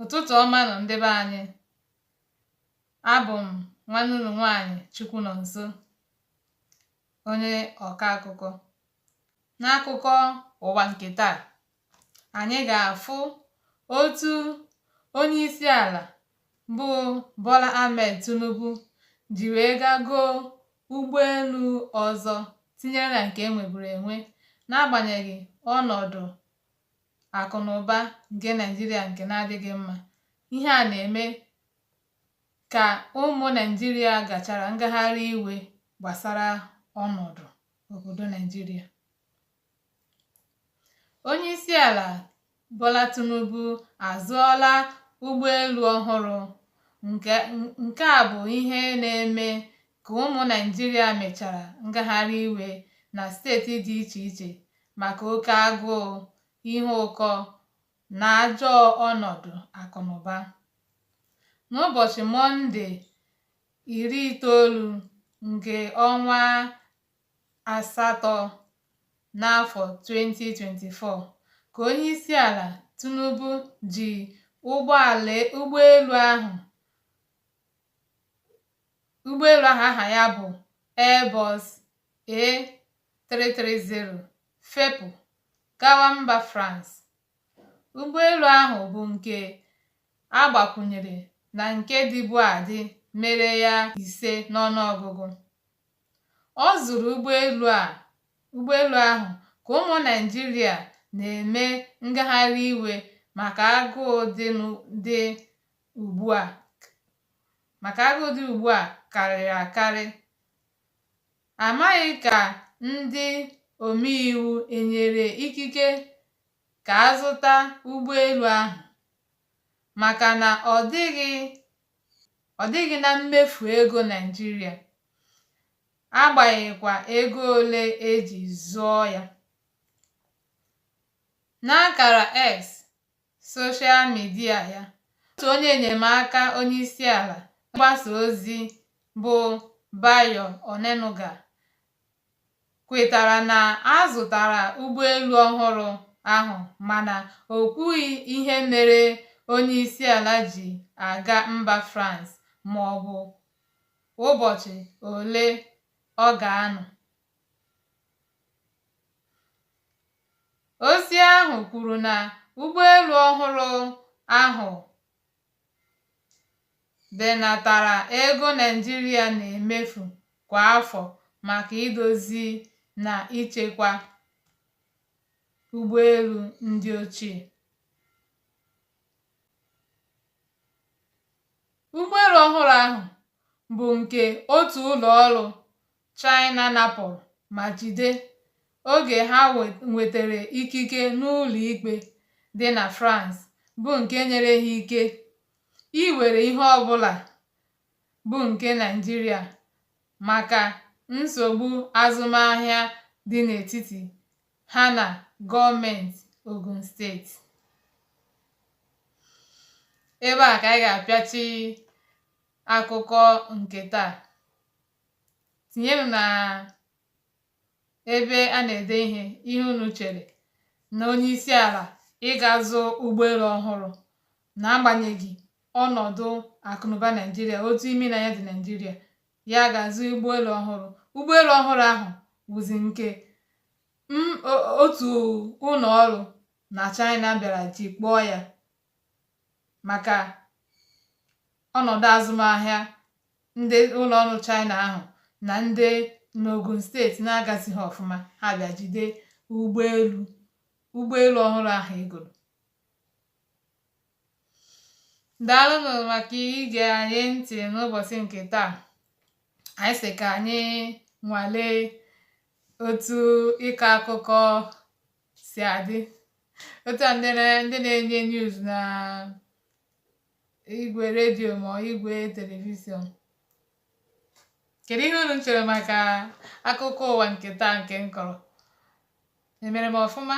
ụtụtụ ọma nụ ndị be anyị abụ m nwanne unu nwaanyị Chukwunọnso onye ọka akụkọ n'akụkọ ụwa nke taa anyị ga-afụ otu onye isi ala bụ Bola Ahmed Tinubu ji wee gaa goo ụgbọelu ọzọ tinyere na nke e nweburu enwe n'agbanyeghị ọnọdụ akụ na ụba nke Naịjirịa nke na-adịghị mma ihe a na-eme ka ụmụ Naịjirịa gachara ngagharị iwe gbasara ọnọdụ obodo Naịjirịa onyeisiala Bola Tinubu azụọla ụgbọelu ọhụrụ nke a bụ ihe na-eme ka ụmụ Naịjirịa mechara ngagharị iwe na steeti dị iche iche maka oke agụụ, ihe ụkọ na ajọ ọnọdụ akụnụba. N'ụbọchị Mọnde iri itoolu nke ọnwa asatọ n'afọ 2024 ka onyeisiala Tinubu ji ụgbọelu ahụ ụgbọelu ahụ aha ya bụ Airbus A330 fepụ gawa mba France ụgbọelu ahụ bụ nke a gbakwụnyere na nke dịbu adị mere ya ise n'ọnụọgụgụ ọ zụrụ ụgbọelu ahụ ka ụmụ Naịjirịa na-eme ngagharị iwe maka agụụ dị ugbu a maka agụụ dị ugbu a karịrị akarị amaghị ka ndị omeiwu enyere ikike ka a zụta ụgbọelu ahụ maka na ọ dịghị ọ dịghị na mmefu ego Naịjirịa agbanyeghịkwa ego ole e ji zụọ ya. N'akara X, soshal midia ya otu onye enyemaka onyeisiala mgbasa ozi bụ Bayo Onanuga kwetara na a zụtara ụgbọelu ọhụrụ ahụ mana o kwughị ihe mere onyeisiala ji aga mba France maọbụ ụbọchị ole ọ ga-anọ. Ozi ahụ kwuru na ụgbọelu ọhụrụ ahụ benatara ego Naịjirịa na-emefu kwa afọ maka idozi na ichekwa ụgbọelu ndị ochie. Ụgbọelu ọhụrụ ahụ bụ nke otu ụlọ ọrụ China napụrụ ma jide oge ha nwetara ikike n'ụlọ ikpe dị na France bụ nke nyere ha ike iwere ihe ọbụla bụ nke Naịjirịa maka nsogbu azụmahịa dị n'etiti ha na gọọmenti Ogun steeti. Ebe a ka anyị ga-apịachi akụkọ nke taa. tinyenụ na ebe a na-ede ihe ihe unu chere na onye isi ala ịga azụ ụgbọelu ọhụrụ na-agbanyeghị ọnọdụ akụnụba naijiria otu imi na anya dị naijiria ya ga-azụ ụgbọelu ọhụrụ ụgbọelu ọhụrụ ahụ wụzi nke otu ụlọ ọrụ na china bịara jikpọọ ya maka ọnọdụ azụmahịa ndị ụlọ ọrụ China ahụ na ndị n'Ogun steeti na-agazighị ọfụma ha bịa jide ụgbọelu ụgbọelu ọhụrụ ahụ e goro daalụnụ maka ige anyị ntị n'ụbọchị nke taa anyị sị ka anyị nwalee otu ịkọ akụkọ si adị otu a ndị na-enye news na igwe redio ma igwe telivishọn kedu ihe unu chere maka akụkọ ụwa nke taa nke m kọrọ emere m ọfụma